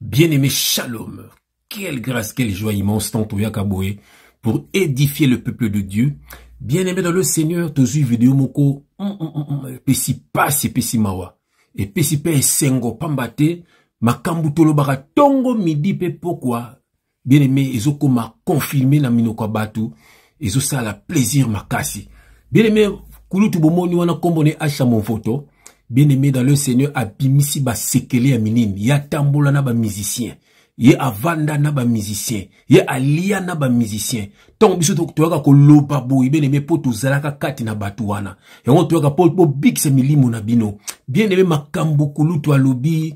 Bien aimé Shalom, quelle grâce, quelle joie immense, tant Toyakaboué, pour édifier le peuple de Dieu. Bien aimé dans le Seigneur, tozu vidéo moko, mm, mm, mm, pesi pasi, pesi mawa, et pesi pe sengo pambate, makambu tolobaka tongo midi pe pokwa, bien aimé ezokoma confirme na minoko ya bato ezosala plaisir makasi bien aimé kulutu bomoni wana nkombo ne asha monvoto bien aimé dans le seigneur abimisi basekele ya minini ye atambola na bamusicien ye avanda na bamusicien ye alia na bamusicien ntango biso toyaka koloba boye bien aimé mpo tozalaka kati na bato wana yango toyaka mpo bobikisa milimo na bino bien aimé makambo kulutu alobi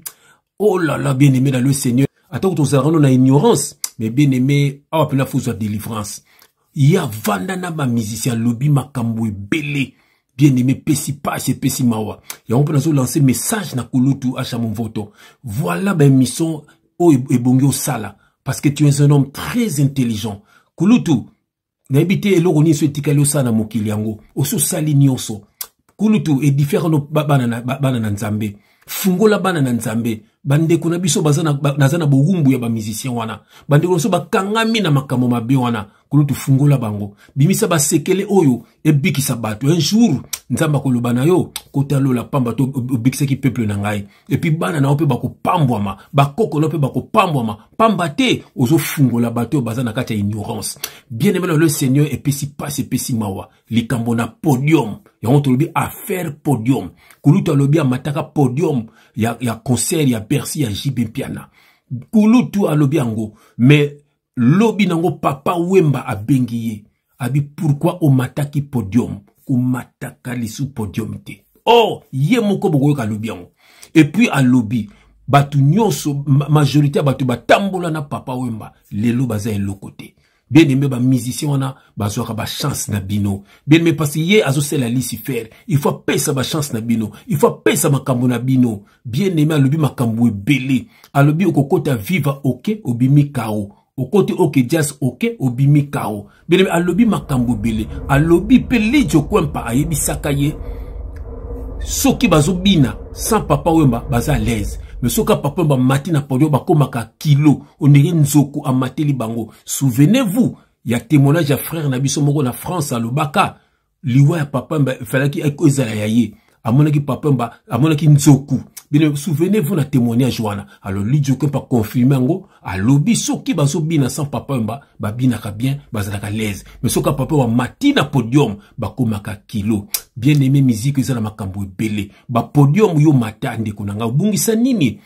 oh là là bien aimé dans le seigneur atako tozalaka no na ignorance mais bien aimé awa mpena fozwa délivrance ye avanda na bamusicien alobi makambo ebele bien aimé epesi pasi epesi mawa yango mpe nazolanse message na kulutu asha monvoto voilà baémission oyo ebongi osala parce que tu es un homme très intelligent kulutu nayebi te eloko nini so etikali osala na mokili yango osi osali nyonso kulutu edifiakano bana na nzambe fungola bana na nzambe bandeko na biso naza na bowumbu ya bamusicien wana bandeko na biso bakangami na makambo mabe wana kulutu fungola bango bimisa basekele oyo ebikisa bato un jour nzambe akoloba na yo kotalola pamba to obikisaki peuple na ngai epuis bana na yo mpe bakopambwama bakoko na yo mpe bakopambwama pamba te ozofungola bato oyo baza na kati ya ignorance bien aimé le seigneur epesi mpasi epesi mawa likambo na podium yango tolobi affaire podium kulutu alobi amataka podium ya, ya concert ya bercy ya jb mpiana kulutu alobi yango mais lobi nango papa wemba abengi ye abi pourkui omataki podium komataka lisu podium te o oh, ye moko bokoyoka alobi yango epuis alobi bato nyonso majorité ya bato batambola na papa wemba lelo baza eloko te bien aime bamusicien wana bazwaka bachance na bino bien aime mpasi ye azosala lisifere il faut apesa bachance na bino il faut apesa makambo na bino bien aime alobi makambo ebele alobi okokota viva oke obimi kao okoti oke jazz oke obimi kao bien aime alobi makambo ebele alobi mpe lijo kwempa ayebisaka ye soki bazobina sans papa wemba baza à l'aise me soki papa wemba amati na podio bakomaka kilo ondenge nzoku amateli bango souvenez-vous ya témoignage ya frère na biso moko na france alobaka liwa ya papa mba efalaki ezala ya ye amonaki papa mba amonaki nzoku bino souvenez vous na témoignage wana alors lidioke mpa confirme yango alobi soki bazobina sans papa mba babinaka bien bazalaka laise mais soki papa wa mati na podium bakomaka kilo bien aimé musique eza na makambo ebele bapodium yo mata ndeko na ngai obungisa nini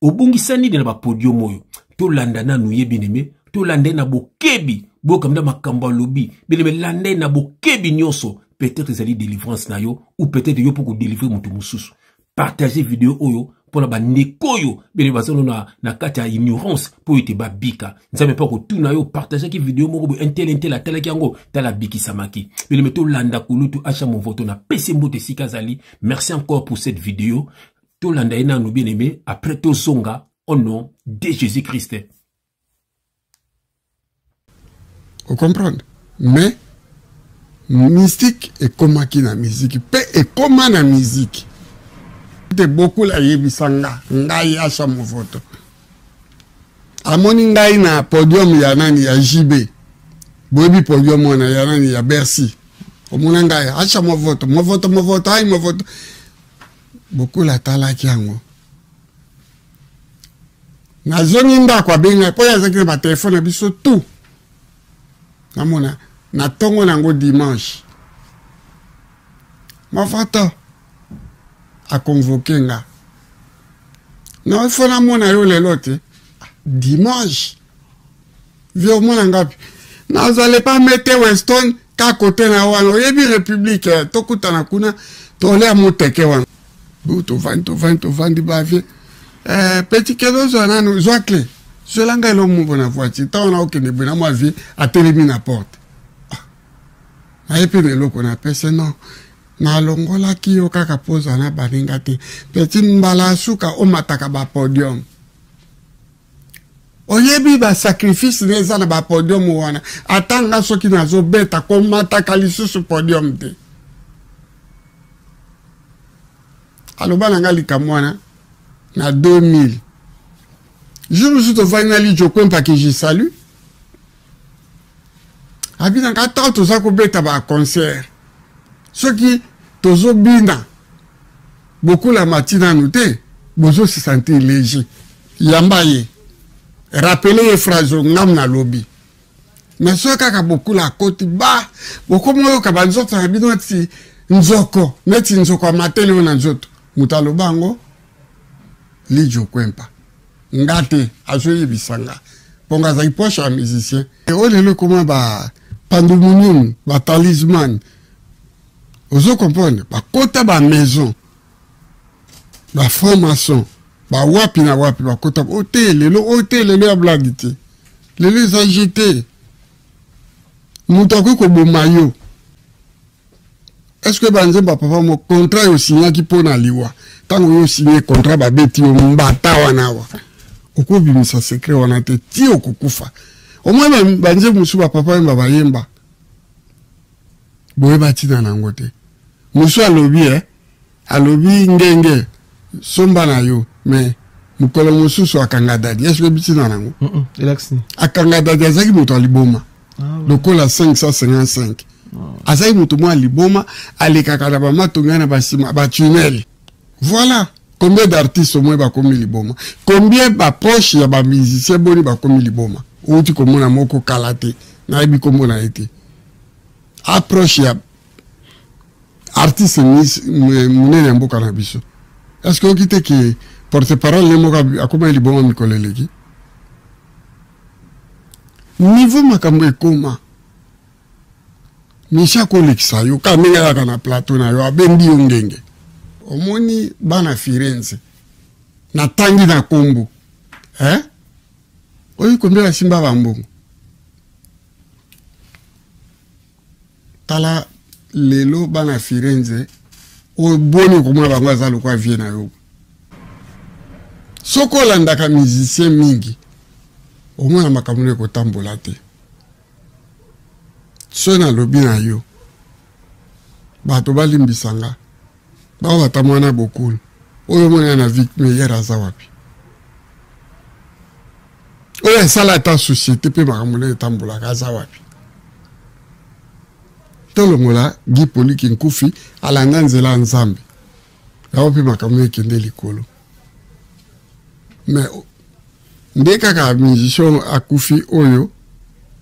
obungisa nini na bapodium oyo tolanda nanu ye bineme tolanda ye na bokebi boyoka mda makambo alobi bineme landa ye na bokebi nyonso peut-être ezali délivrance na yo ou peut-être yo mpo kodelivre moto mosusu partage video oyo mpo na bandeko oyo bene bazano na, na kati ya ignorance mpo ete babika nzambe mpe akotuna yo partageaki video moko boye entele entele atalaki yango tala abikisamaki beleme tolanda kulutu asha movoto na pese mboto esika azali merci encore pour cette video tolanda ye nanu bien aime après tozonga au nom de jésus christ ocomprendre mais mystique ekomaki na miziki mpe ekoma na miziki te bokula ayebisa nga ngai asha movoto amoni ngai na podium ya nani ya jb boyebi podium wana ya nani ya bercy omona ngai asha movoto movoto movoto ai movoto bokula atalaki yango nazongi ndako abenga mpo azalaki na batelefone na biso tu namona na ntongo na yango dimanche mafata akonvoke nga na ifo namona yo lelo te dimanche vie omona ngapi nazale pa mete weston ka kote na wana oyebi republike eh, tokutana kuna tolea moteke wana bu tovandi tovandi tovandi bavie eh, petit kedo zwa nanu zwa cle zwela ngai elo moko na voiture ntango na okende boye na mwa vie atelemi na porte ah, naye mpe na eloko na pese non nalongolaki yo kaka mpo ozala na baninga te petit mbala suka omataka bapodium oyebi ba sacrifice na eza na ba podium wana ata nga soki nazobeta komataka lisusu podium te aloba na nga likambo wana na 2000 jour mosusu tofandi na lijo kwempaki je salut abi na nga ntango toza kobeta ba concert soki tozobina bokulama ti nanu te bozosesantir léger yamba ye rapele ye phrase oyo ngam na lobi mais soki kaka bokula akoti ba bokomi oyoka banzoto na bino neti nzoko neti nzoko ya matele oyo na nzoto moto aloba yango lijo kwempa nga te azoyebisa nga mpo nga azali poche ya musicien oyo lelo ekoma ba pandumonium ba talisman ozo comprendre bakota ba maison ba franc maçon ba wapi na wapi bakota oyo te lelo oyo te lelo ya blagi te lelo eza je te moto akoki koboma yo estce banzembo ya papa mo contrat yo osignaki mpo na liwa ntango yo osigne contrat babeti yo mbata wana wa okobimisa sekret wana te ti okokufa omoi banzembo mosusu bapapa yemba bayemba boyeba ntina na yango te mosusu alobi e eh? alobi ngenge somba na yo mais mokolo mosusu akanga dadi eske obitina nango akanga dadi azalaki moto ya liboma ah, lokola 555 ah. azalaki moto mwa liboma alekaka na bamatonga na basima batunele voilà combien d'artistes omoi bakomi liboma combien baproche ya bamusicien boni bakomi liboma outi komona moko kala te nayebi kombo na ye te aproche ya artiste monene ya mboka na biso est ce que oyoki te ke porte parole ye moko akomaki libongo mikolo eleki niveau makambo ekoma misi akolekisa yo ka ndenge ayaka na plateau na yo abendi yo ngenge omoni bana firenze natangi na nkombo eh? oyo kombela simba bambongo tala lelo bana firenze oyo boni okomona bango aza lokola vie na yo soki olandaka musicien mingi omona makambo no ekotambola te soki nalobi na yo bato balimbisa nga Ba wata mwana bokul. Oyo mwana na Vic Meyer aza wapi? Oyo asala ata société pe makambo na etambolaka aza wapi? Tolongola Guy Poliki Nkufi alanda nzela Nzambe. Yango pe makambo ekende likolo. Mais nde kaka musicien akufi oyo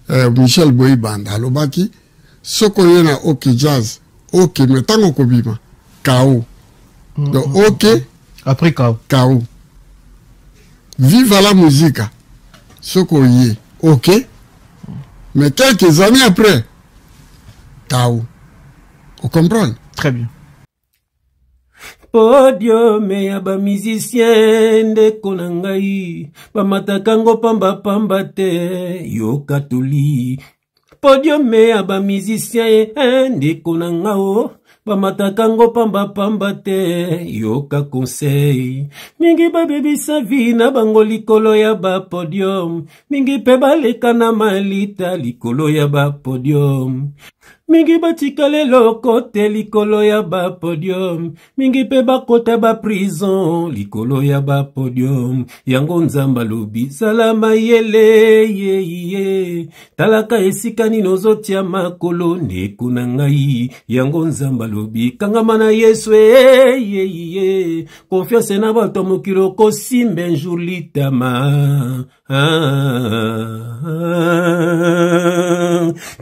eh, michel boyibanda alobaki soki oye na oke jazz oke me ntango okobima kao mm, donc mm, mm, oke après kao kao viva la musica soki oye oke mais quelques années après kao ocomprendre très bien podiume ya bamusicien ndeko na ngai bamataka ngo pambapamba te yoka toli podiume ya ba musicien ye eh, ndeko na nga o oh. bamataka ngo pambapamba te yoka konsei mingi babebisa vi na bango likolo ya bapodium mingi mpe baleka na malita likolo ya bapodium mingi batikala eloko te likolo ya bapodium mingi mpe bakota baprison likolo ya bapodium yango nzambe alobi zala mayele yeye talaka esika nini ozotia makolo ndeko na ngai yango nzambe alobi kangama na yesu eyeye konfianse na bato ya mokili okosimba enjour litama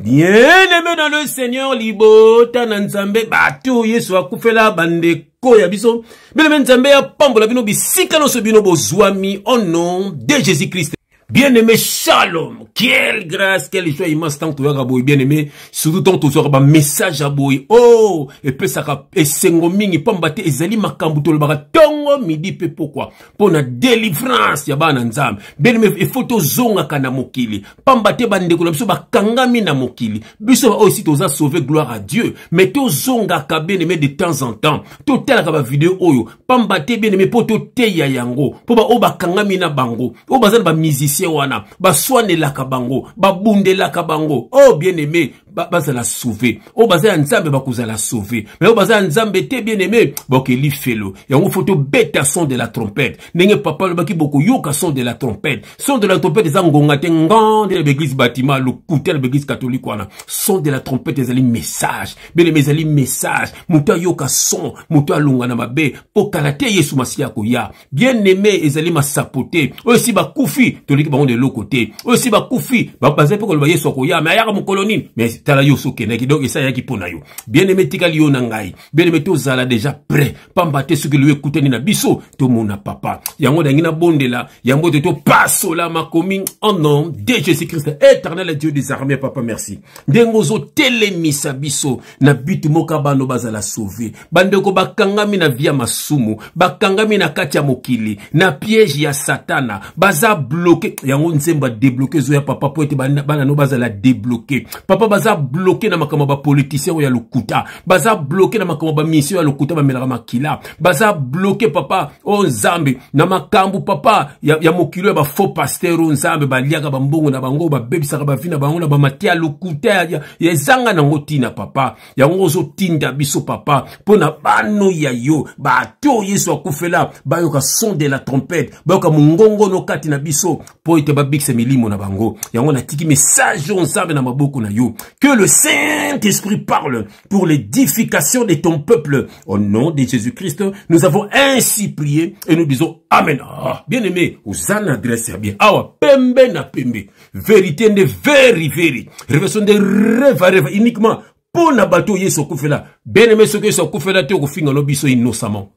bien-aimé dans le seigneur libota na nzambe bato yesu akufela bandeko ya biso bien-aimé nzambe apambola bino bisika nyonso bino bozwami au nom de jésus christ bien-aimé shalom quelle grâce quelle joie immense ntango toyaka boye bien-aimé surtout ntango tozwaka bamessage ya boye o oh, epesaka esengo mingi mpamba te ezali makambo tolobaka ntongo midi mpe pokwa mpo na delivrance ya bana nzambe benime efo tozongaka na mokili mpamba te bandeko na biso bakangami na mokili biso baoyo esi toza sauve gloire à dieu mais tozongaka benime de temps en temps totalaka bavideo oyo mpamba te benime mpo toteya yango mpo baoyo bakangami na bango oyo baza na bamusicien wana baswanelaka bango babundelaka bango o oh, bien aime bazala ba sauve oyo baza ya nzambe bakozala sauve me oyo baza ya nzambe te bien aime bokeli felo yango fo tobeta son de la trompette ndenge papa alobaki bokoyoka son de la trompette son de la trompette eza ngonga te ngande na baeglise batima lokuta na baeglise katolike wana son de la trompette ezali message bien aime ezali message moto ayoka son moto alonga na mabe mpo kala te yesu masiya akoya bien aime ezali masapo te oyo esi bakufi toleki bango na eloko te oyo esi bakufi bazali mpe koloba yesu akoya me ayaka mokolo nini me tala yo sokendaki donc esi ayaki mpo na yo bien aime etikali yo na ngai bien aime tozala deja prêt pamba te soki liyo ekutani na biso tomona papa yango nangi nabondela yango ete topasola makomi en nom de jésus christ éternel dieu des armées papa merci ndenge ozotelemisa biso na but moka bano bazala sauve bandeko bakangami na via masumu bakangami na kati ya mokili na piège ya satana baza bloke yango nzembo ya debloke ezoya papa mpo ete bana no bazala debloke papa baza bloke na makambo ya bapolitisien oyo ya lokuta baza bloke na makambo ya bamisio ya lokuta bamelaka makila baza bloke papa o oh nzambe na makambo papa ya, ya mokili ya bafaux pasteur o oh nzambe baliaka bambongo na bango babebisaka bavi na bango na bamati ya lokuta ya, ya, ezanga nango ntina papa yango ozotinda biso papa mpo na bano ya yo bato oyo yesu akufela bayoka son de la trompete bayoka mongongono kati na biso mpo ete babikisa milimo na bango yango natiki message oyo nzambe na maboko na yo que le saint esprit parle pour l'édification de ton peuple au nom de jésus christ nous avons ainsi prié et nous disons amen ah, bien aimé oza na adresse ya bien awa pembe na pembe verite nde veri veri revelation nde reva reva uniquement mpo na bato oyo yesu akufela beneme soki yesu akufela te okofinga no biso innocemment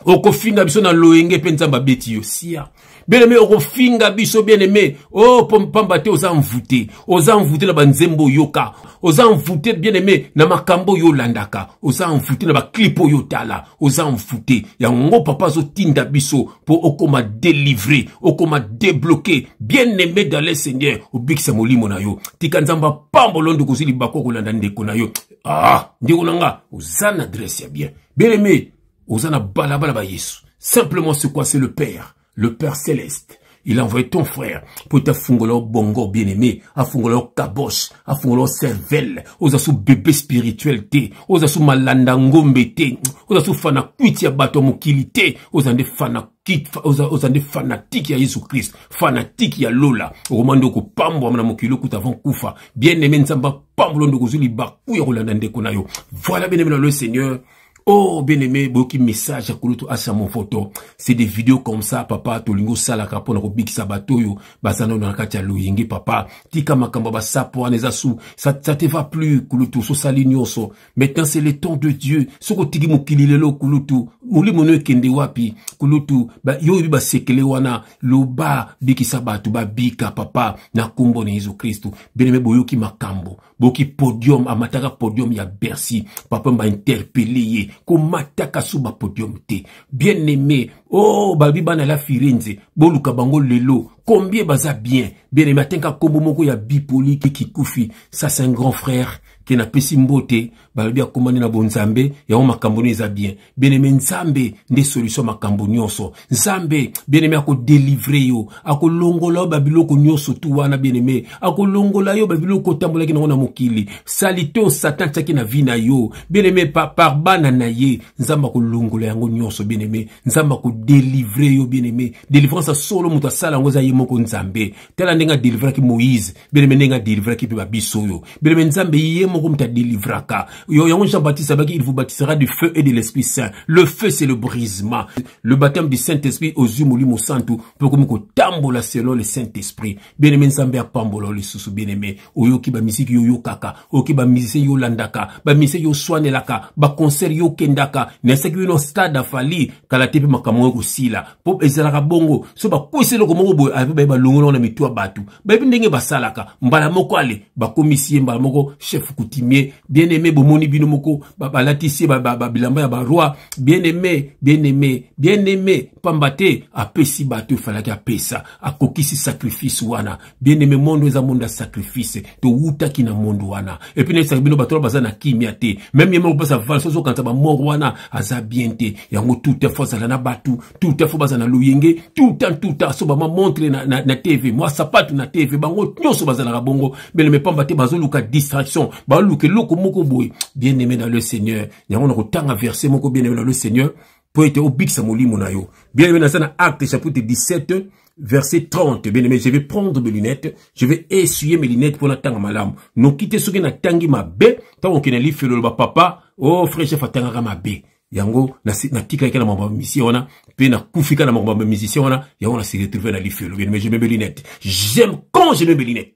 okofinga biso na loyenge mpe nzambe abeti yo sia bien-aimé okofinga biso bien-aimé o oh, mpamba te oza mvute oza mvute na banzembo oyoka oza mvute bien-aimé na makambo oyo olandaka oza mvute na baclipe oyo otala oza mvute yango papa azotinda biso mpo okoma delivre okoma debloke bien aime dans le seigneur obikisa molimo na yo tika nzambe apambolo ndeko ozwi libaku okolanda ndeko na yo ah ndeko na nga oza na adresse ya bien bien aime oza na balabala ba yesu simplement c'est quoi c'est le père le père céleste Il a envoyé ton frère pour te fungolo bongo bien-aimé, à fungolo kabosh, à fungolo cervelle, aux asous bébé spirituel te, aux asous malanda ngombe te, aux asous fana kuiti ya bato mokili te, oza nde fanatique oza, oza nde fanatique ya yesu krist fanatique ya lola okoma nde okopambwama na mokili okuta avant kufa bien aime nzambe apambolo nde okozwi libaku ya kolanda ndeko na yo voilà bien aime na le seigneur Oh, bien aimé, boki message ya kulutu asa mon photo. C'est des vidéos comme ça, papa, tolingo salaka pona ko bikisa batoyo, basana na kati ya loyenge, papa. Tika makamba ba sapo aneza sou. Ça, ça te va plus, kulutu, so sali nyoso. maintenant c'est le temps de dieu soki otiki mokili lelo kulutu molimo no ekende wapi kulutu yo oyebi basekele wana loba bikisa bato babika papa na nkombo na yesu kristu beneme boyoki makambo boki podium amataka podium ya bercy papa bainterpele ye komataka so bapodium te bien aime o oh, babi bana la firenze boluka bango lelo combien baza bien bien aime atenka nkombo moko ya bipoliki kikufi ça c'est un grand frère ke napesi mbote balobi akomani na bonzambe yango makambo nio eza bien bieneme nzambe nde solution makambo nyonso nzambe bieneme akodelivre yo akolongola yo babiloko nyonso tu wana bieneme akolongola yo babiloko otambolaki nango na mokili salite oyo satan atiaki na vi na yo bieneme par bana na ye nzambe akolongola yango nyonso bieneme nzambe akodelivre yo bieneme delivrance ya solo moto asala yango eza ye moko nzambe tala ndenge adelivraki moïse beleme ndenge adelivraki mpe babiso oyo beleme nzambe ye moko moto adelivraka yango jean baptiste abaki il vous baptisera du feu et de l'esprit saint le feu c'est le brisement le baptême du saint esprit ozwi molimo santu mpe okomi kotambola selon le saint esprit bieneme nzambe apambola yo lisusu bieneme oyoki bamiziki yo oyokaka oyoki bamisie yo olandaka bamisie yo oswanelaka baconcert yo okendaka na esaki bino stade afali kala te mpe makambo oyo kosila mpo ezalaka bongo so bakwesi eloko moko boye ape baye balongolao na mitu ya bato bayebi ndenge basalaka mbala moko ale bakomisi ye mbala moko chef coutumier bien aime bomoni bino moko balatisi ye babilamba ya baroi bien aime bien aime bien aime mpamba te apesi bato efalaki apesa akokisi sacrifice wana bien-aimé monde eza monde ya sacrifice towutaki na monde wana epuis nayebisaka bino bato wana baza na kimia te meme ye moko mpasa valse ozokanisa bamort wana aza bien te yango tout temps fo azala na bato tout temps fo bazala na loyenge tout temps tout temps so bama montre na, na, na tv mwa sapatu na tv bango nyonso bazalaka bongo bien-aimé pamba te bazoluka distraction baluka eloko moko boye bien-aimé dans le seigneur yango na kotanga verse moko bien-aimé dans le seigneur mpo ete obikisa molimo na yo bien aime naza na acte chapitre 17 verset 30 bien aime je vais prendre mes lunettes je vais essuyer mes lunettes mpo natanga malamu noki te soki natangi mabe ntango okende lifelo oloba papa o oh, frère chef atangaka mabe yango natikaki na makambo ya misien wana mpe nakufika na makambo ya misien wana yango na se retrouve na lifelo bien aime je meme lunette j'aime quand je meme lunette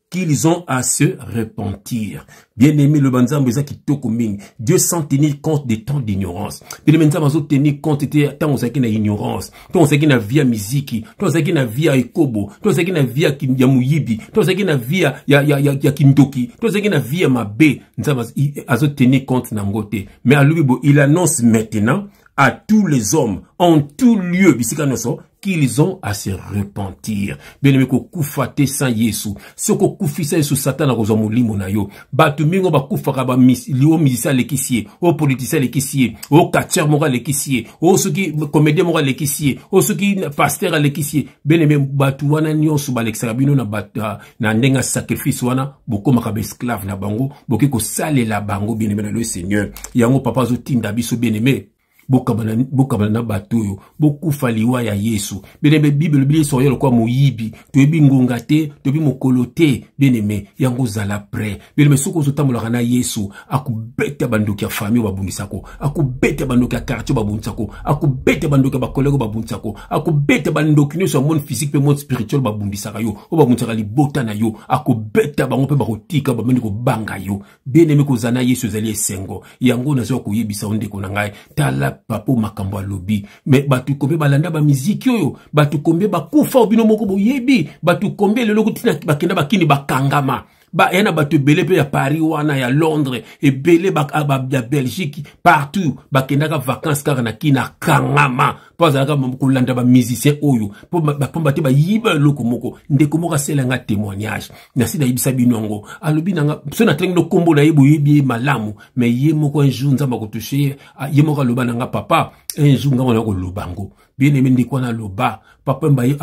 qu'ils ont à se repentir. Bien-aimé, le banzambo eza kitoko mingi. Dieu sans tenir compte des temps d'ignorance. Puis le banzambo azo tenir compte te tant ozaki na ignorance, tant ozaki na via miziki, tant ozaki na via ekobo, tant ozaki na via ya muyibi, tant ozaki na via ya ya ya, ya kindoki, tant ozaki na via mabe, nzambo azo tenir compte na ngote. Mais alubi bo il annonce maintenant à tous les hommes en tout lieu bisika nyoso qu'ils ont à se repentir bien aimé kokufa te sans yesu soki okufisa yesu satan akozwa molimo na yo bato mingi oyo bakufaka o musicien alekisi ye o politicien alekisi ye o catcher moko alekisi ye o soki comédien moko alekisi ye o soki pasteur alekisi ye bien aimé bato wana nyonso balekisaka bino na, ah, na ndenge ya sacrifice wana bokomaka baesclave na bango bokoki kosalela bango bien aimé na lo seigneur yango papa azotinda biso bien aimé bokabana bokabana na bato oyo bokufa liwa ya yesu beneme bible elobi yesu akoya lokola moyibi toyebi ngonga te toyebi mokolo te beneme yango ozala pre beneme soki ozotambolaka na yesu akobeta bandoki ya fami oyo babundisako akobeta bandoki ya quartier oyo babundisako akobeta bandoki ya bakolege oyo babundisako akobeta bandoki nyonso ya monde physique mpe monde spirituel babundisaka yo oyo babundisaka libota na yo akobeta bango mpe bakotika bamoni kobanga yo bien aime kozala na yesu ezali esengo yango nazwa koyebisa yo ndeko na ngai tala papo makambo alobi me bato kombe balanda bamiziki oyo bato kombe bakufa obino moko boyebi bato kombe lelo kutina bakenda bakini bakangama baya na bato ebele mpe ya paris wana ya londres ebele ah, ya belgique partout bakendaka vacances kaka na kini akangama mpo azalaka kolanda bamusicien oyo mpomba te bayiba eloko moko ndeko moko asela nga témoignage nasi nayebisa bino yango alobi nanga so natangi no nkombo na ye boyebi ye malamu me ye moko un jour nzambe akotushe ye ye moko aloba na nga papa un jour ngai wana koloba yango bien aime ndeko wana aloba papa mbaye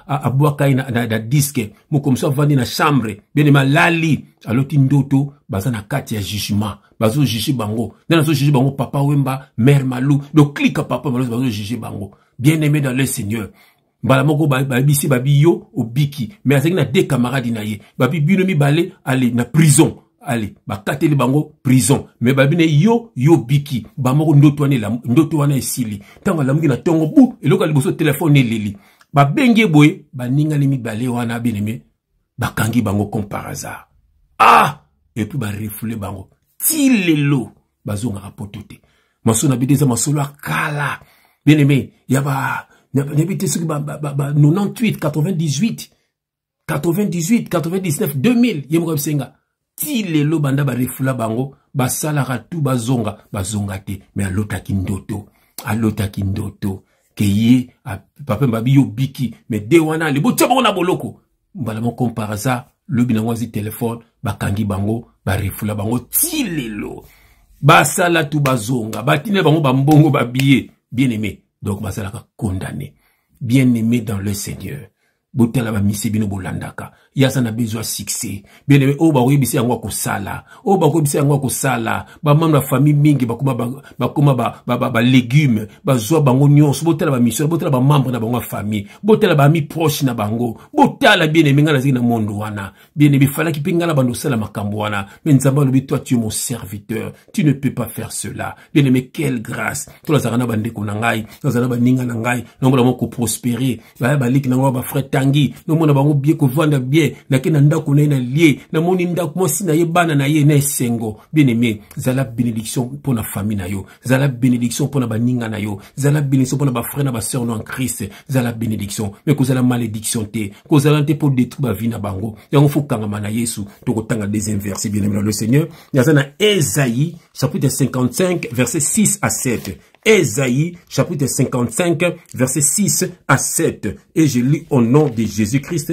abwaka ye na, na, na diske mokomisi avandi na chambre bien aime alali aloti ndoto baza na kati ya jugement bazojuge bango nani azojuge bango papa wemba mare malou donc klika papa malou bazojuge bango bien aime dans le seigneur mbala moko babisi ba babi yo obiki me azalaki na de camarade na ye babi bino mibale ale na prison ale bakateli bango prison me babi na yo yo obiki bamoko ndoto wana ndoto wana esili ntango alamuki na ntongo bu eloko ya liboso telefone eleli babengi ye boye baningani mibale wana beneme bakangi bango comme par hasard ah epuis barefoule bango ti lelo bazongaka poto te masolo na bino eza masolo ya kala bien aimé ya ba nayebi te soki ba 98 98 98 99 2000 ye moko abisenga ti lelo banda barefula bango basalaka tu bazonga bazonga te me alotaki ndoto alotaki ndoto ke ye papa mbabi yo biki me de wana ale botia bango na boloko mbala moko par hasard lobi nango azwi telefone bakangi bango barefula bango ti lelo basala tu bazonga batindela bango bambongo babiye bien aimé donc basalaka condamne bien aimé dans le seigneur botala bamisi bino bolandaka ye aza na bezo ya succès bieneme oyo bakoyebisa yango akosala oyo bakoyebisa yango akosala bamambre ya famille mingi bakoma balegume bazwa bango nyonso botala bamisio botala bamambre na bango ya famille botala bami proche na bango botala bieneme ngai nazali na mondo wana bien aimé falaki mpe ngai na bando osala makambo wana me nzambe alobi toi tu es mon serviteur tu ne peux pas faire cela bien aimé quelle grâce to nazalaka na bandeko na ngai nazala na baninga na ngai nomona bango koprospere baya baleki na ngai bafrai tangi nomona bango bie kovanda bien nake na ndako na ye na lie namoni ndako mwasi na ye bana na ye na esengo bien aimé zala bénédiction mpo na famille na yo zala bénédiction pona ba ninga na yo zala bénédiction pona ba frère na ba sœur no en Christ zala bénédiction mais kozala malédiction te kozala te pour détruire ba vie na bango yango faut kangama na Yesu toko tanga deuxième verset bien aimé le Seigneur yaza na Esaïe chapitre 55 verset 6 à 7 Esaïe chapitre 55 verset 6 à 7 et je lis au nom de Jésus-Christ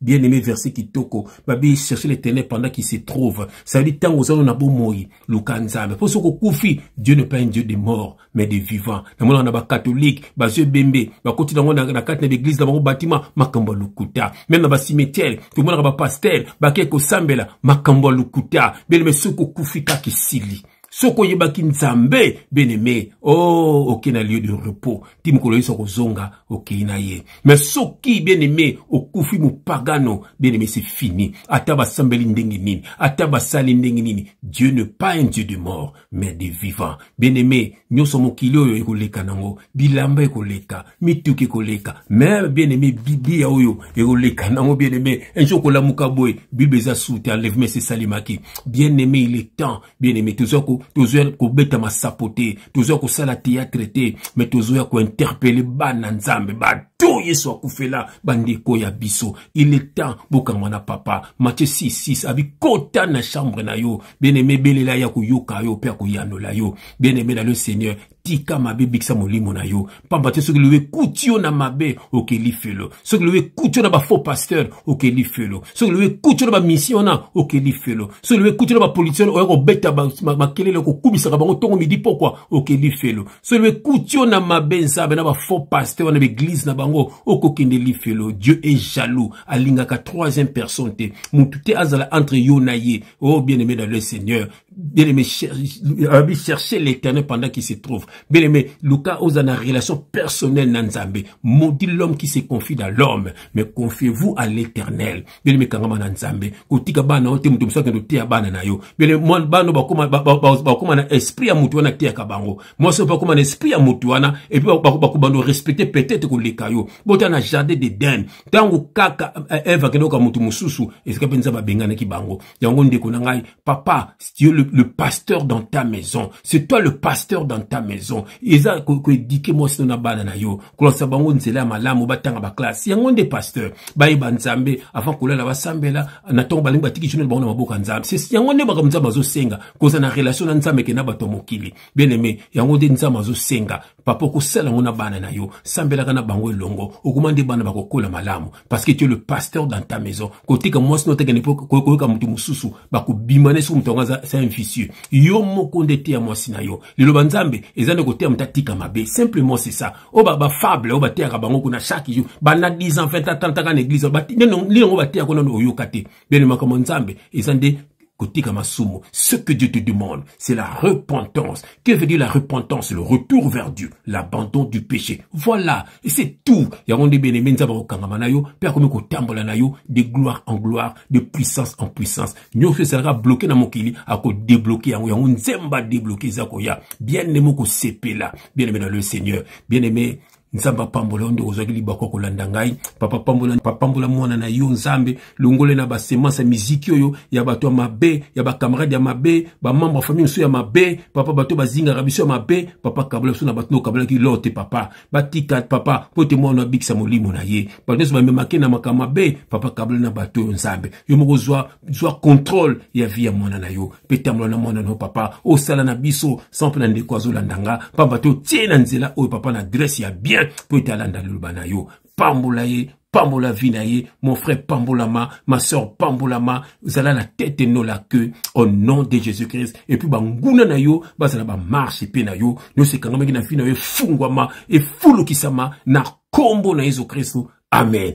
bien aimé verset kitoko babi chercher l'éternel pendant qu'il se trouve ça veut dire ntango ozana na bomoi luka nzambe mpo soki okufi dieu ne pas un dieu de mort mais de vivant namonaka na bacatholique bazwi ebembe bakoti nango na kati na baeglise na bango batima makambo ya lokuta meme na bacimetiere tomonaka bapastere bakei kosambela makambo ya lokuta bien aimé soki okufi kaka esili soki oyebaki nzambe beneme o oh, okei na lieu de repos ti mokolo yesu akozonga okei na ye me soki beneme okufi mopagano beneme se fini ata basambeli ndenge nini ata basali ndenge nini dieu ne pas un dieu de mort mais de vivant beneme nyonso mokili oyo ekoleka nango bilamba ekoleka mituki ekoleka me beneme biblia oyo ekoleka nango beneme un jour kolamuka boye bible eza sute enlèvement esesalemaki bien aimé il est temps bien aimé tozoya tozoya kobeta masapo te tozoya kosala théâtre te mais tozoya kointerpele bana nzambe bato yesu akufela bandeko ya biso il est temps bokangwa na papa mathieu 66 abi kota na chambre na yo bien aimé belela ya koyoka yo mpe akoyanola yo bien aimé na le seigneur tika mabe bikisa molimo na yo mpamba te soki lobi ekuti yo na mabe okeli felo soki lobi ekuti yo na bafaux pasteur okeli felo soki lobi ekuti yo na bamisio wana okeli felo soki lobi ekuti yo na bapolitien oya kobeta makelele kokumisaka bango ntongo midi pokwa okeli felo soki lobi ekuti yo na mabe nzambe na bafaux pasteur wana baeglize na bango okokende lifelo dieu est jaloux alingaka troisième personne te motu te azala entre yo na ye o oh, bien aimé dans le seigneur bien aimé alobi chercher l'éternel pendant qu'il se trouve bien aimé luka oza na relation personnelle na nzambe maudit l'homme qui se confie dans l'homme mais confiez-vous à l'éternel bien aimé kangama na nzambe kotika bana yo te moto mosusu akende oteya bana na yo bien aimé mwa bana bakoma bakoma na esprit ya moto wana ateyaka bango mwasi oyo bakoma na esprit ya moto wana epuis bakobanda orespecte peut-être koleka yo bota na jardin d'eden ntango kaka eh, eve akende oka moto mosusu esika mpe nzambe abenganaki bango yango ndeko na ngai papa tu es le, le pasteur dans ta maison c'est toi le pasteur dans ta maison eza koedike mwasi no na bana na yo kolakisa bango nzela ya malamu batanga baklasse yango nde pasteur bayeba nzambe avant kolala basambela na ntongo balingi batiki journal bango na maboko ya nzambe yango nde makambo nzambe azosenga kozala na relation na nzambe ke na bato ya mokili bien aime yango nde nzambe azosenga papa okosala yango na bana na yo sambelaka na bango elongo okoma nde bana bakokola malamu parce que tu es le pasteur dans ta maison kotika mwasi no tekende mpo koyoka moto mosusu bakobima na soki moto yango aza sa inficieux yo moko nde teya mwasi na yo liloba nzambe eza nde koteya moto atika mabe simplement c'est ça oyo bafable oyo bateyaka bango kuna chaque jour banda 10 ans 20 ans 30 ans na église nini yango bateyaka nano oyoka te bene makambo nzambe eza nde Kotika masumu, ce que Dieu te demande, c'est la repentance. Que veut dire la repentance? Le retour vers Dieu, l'abandon du péché. Voilà, et c'est tout. Yango nde bien aimé nzaba kokangama na yo, pe akomi kotambola na yo de gloire en gloire, de puissance en puissance. Nyonso ezalaka bloqué na mokili, ako débloquer yango, yango nzemba débloquer eza koya. Bien aimé moko sepela, bien aimé dans le Seigneur, bien aimé nzambe apambola yo ndeko ozwaki libaku ya kolanda ngai papa pambola papambola mwana na yo nzambe longole na basemance ya miziki oyo ya bato ya mabe ya bacamarade ya mabe bamembre ya famille mosusu ya mabe papa bato bazingaka biso ya mabe papa kabola biso na bato nde okabolaki lor te papa batika papa mpo te mwana abikisa molimo na ye bato nyonso bamemake na makambo mabe papa kabola na bato oyo nzambe yo moko zwa zwa contrôle ya vie ya mwana na yo mpe tambola na mwana na yo papa osala na biso sans mpe na ndeko azolanda nga mpamba te otie na nzela oyo papa na adresse ya bien mpo ete alanda liloba na yo pambola ye pambola vie na ye mon frère pambolama ma soeur pambolama zala na tete no la queue au nom de jésus christ epuis banguna na yo bazala bamarshe mpe na yo nyonso ekangamaki na vie na yo efungwama efulukisama na nkombo na yesu kristo amen